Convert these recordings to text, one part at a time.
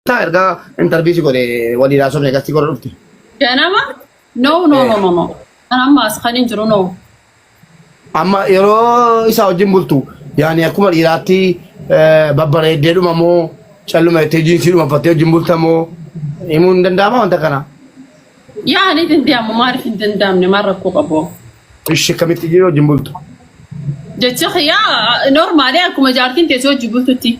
Taa ergaa interview si godhe walii laasofne gastii godha dhufte. Ganama? No, no, no, no, no. Kan amma as kan hin jiru no. Amma yeroo isaa wajjin bultu yaani akkuma dhiiraatti eh, babbareeddee dhuma moo calluma jettee jiinsii dhuma uffattee wajjin bulta moo himuun hin danda'ama wanta kana. Yaa ni danda'amu maaliif hin danda'amne maal rakkoo qabu. Ishee kamitti jiru wajjin bultu. Jecha kiyyaa normaali akkuma jaartiin teessoo hojii bultutti.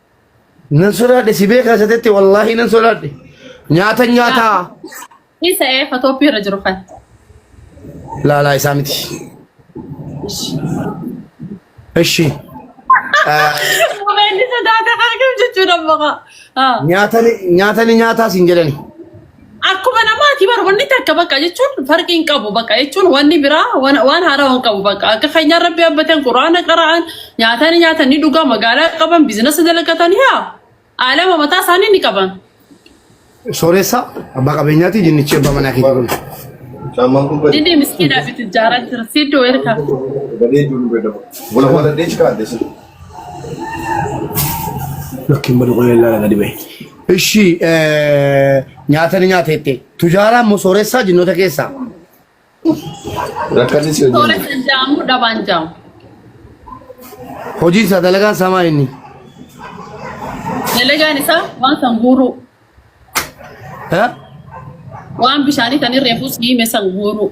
Nan sodaadhe si beekaa isa tetti wallaahi nan sodaadhe. Nyaata nyaataa. Isa ee fatooppii irra jiru kan. Laalaa isaa miti. Ishi. Mobaayilli sodaata kan jiru jechuudha moqa. Nyaatani nyaatani nyaataa siin jedhani. Akkuma namaati bar wanni takka bakka jechuun farqii hin qabu bakka jechuun wanni biraa waan waan haaraa hin qabu bakka akka keenyaa rabbi abbatan quraana qara'an nyaataa ni nyaatan ni dhugaa magaalaa qaban biizinasa dalagatan yaa aalama mataa isaanii ni qaban. Sooressa abbaa qabeenyaati jinnichi abbaa manaa keetii kun. Caamaan kun badee. Dindee miskiinaa fi tijjaaraa jira siddoo ergaa. Badee jiru nu beekamu. Wala wala deechi kaadde sun. Lakkiin badu qolee laala gadi ba'e. Ishi nyaata ni nyaata jettee. Tujaaraan moo sooressaa jinnoota keessaa? Rakkate si Toora hojjenna. kan jaamu dhabaan jaamu. Hojiin isaa dalagaan isaa maa inni? Dalagaan isaa waan kan guuruu, Ha? waan bishaanii kan irree fuus hiime san guuruu.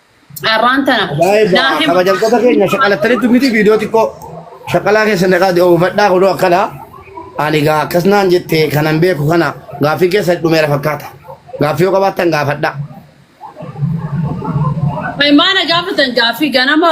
Carraan tana. Baay'ee Naa hima. kabajamtoota keenya shaqalattanitti miti viidiyoo xiqqoo shaqalaa keessa naqaa oofadhaa kunoo akkana ani gaa akkas naan jette kanan beeku kana gaaffii keessa dhumeera fakkaata gaaffii yoo qabaattan gaafadhaa. Maana gaafatan gaaffii ganama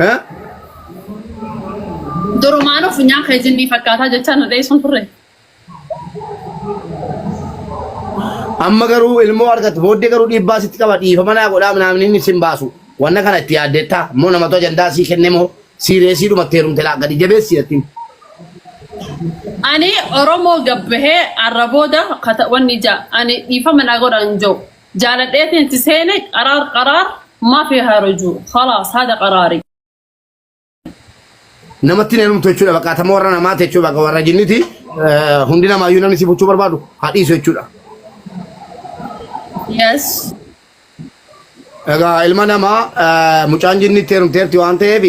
Eh? Durumaan of nyaa kee jinnii fakkaataa jechaa nu dheessuun turre. Amma garuu ilmoo argatu booddee garuu dhiibbaa sitti qaba dhiifama naa godhaa naamni inni sin baasu. Wanna kana itti yaaddeettaa immoo namatu ajandaa sii kenne moo siireesii dhumatti heerumte laa gadi jabeessi jettiin. Ani Oromoo gabbahee arra booda kata- wanni ija ani dhiifama naa godhan jiru. Jaaladheetiin itti seene qaraar qaraar ma fi harujuu khalaas hada qaraari. namatti neenumtu jechuudha bakka atama warra namaa ta'e jechuudha bakka warra jinniti hundi namaa iyyuu namni si buchuu barbaadu haa dhiisu jechuudha. Yes. Egaa ilma namaa mucaan jinnitti heerumteerti waan ta'eef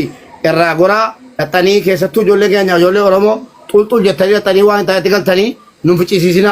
irraa goraa dhaxxanii keessattuu ijoollee keenya ijoollee Oromoo xulxul jettanii dhaxxanii waan hin taanetti galtanii nun ficisiisina.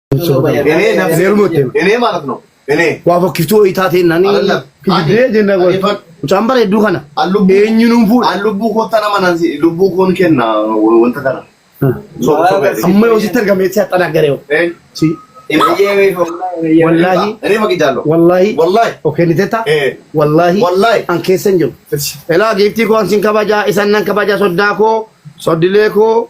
Enee maalif noo? Enee. Waa fokkiftuu wayii taateen nani. Kijibdee jenna goon. Mucaan bareedduu kana. Eenyu nuun fuudha. An lubbuu kootta nama nan si lubbuu koon kenna wanta kana. Amma yoo sitti argamee si haxxanaa garee. Si. Wallaahi. Enee maqii jaallo. Wallaahi. Wallaahi. Okee ni tetta. Wallaahi. Wallaahi. An keessa hin jiru. Elaa giiftii koo an sin kabajaa isan nan kabajaa soddaa koo soddilee koo.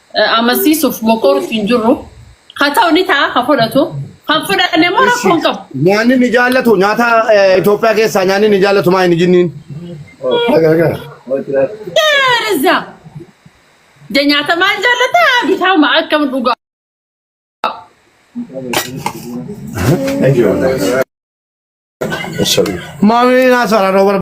amansiisuuf mokoortu hin jirru. Haa ta'u ni ta'a kan fudhatu. Kan fudhanne immoo rakkoo hin qabu. Nyaanni ni jaallatu nyaata eh, Itoophiyaa keessaa nyaanni ni jaallatu maa hin jinniin. Gaariza. Ja nyaata maal jaallata? Bitaama akkam dhugaa. Maamilii naa soraa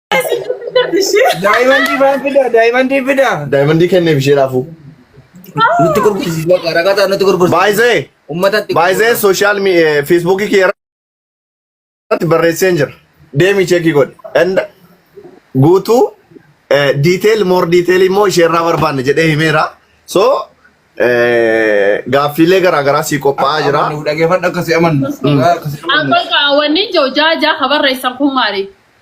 Daa'imandii maal fidaa? Daa'imandii fidaa? Daa'imandii kenneef ishee raafuu. Nutti gurgursiis bakka ragataa nutti gurgursiis. Baay'isee. Ummatatti. Baay'isee sooshaal feesbuukii kee irratti barreesseen jira. Deemi cheekii godhe. Enda guutuu diiteel moor diiteel immoo ishee irraa barbaanne jedhee himeera. So gaaffiilee garaagaraa sii qophaa'aa jira. Dhaggeeffadhu akkasii amanna. Akkasii amanna. Akkol kaawwanni jaa jaa habarreessan kun maali?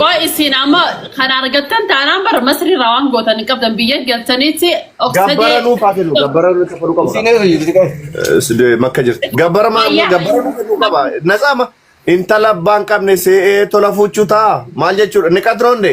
Qoy isin amma kan argattan taanaan bara masrii irraa waan gootan hin qabdan biyya galtaniitti of Gabbara sadee nuuf haa kennu. Gabbara nuuf kafaluu qabna. Isiin eessa jirti qoy? Eh, sidee makka jirti. Gabbara ma Fayyaa. gabbara nuuf kennuu qaba. Nasaama intala abbaan qabne see'ee tola fuuchuu ta'a. Maal jechuudha? Ni qadroonde.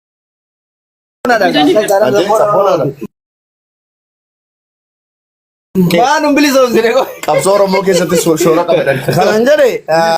Waan hin bilisoomsine qofa. Qabsoo Oromoo keessatti so- shoora qabadan. Kanan jedhe ah,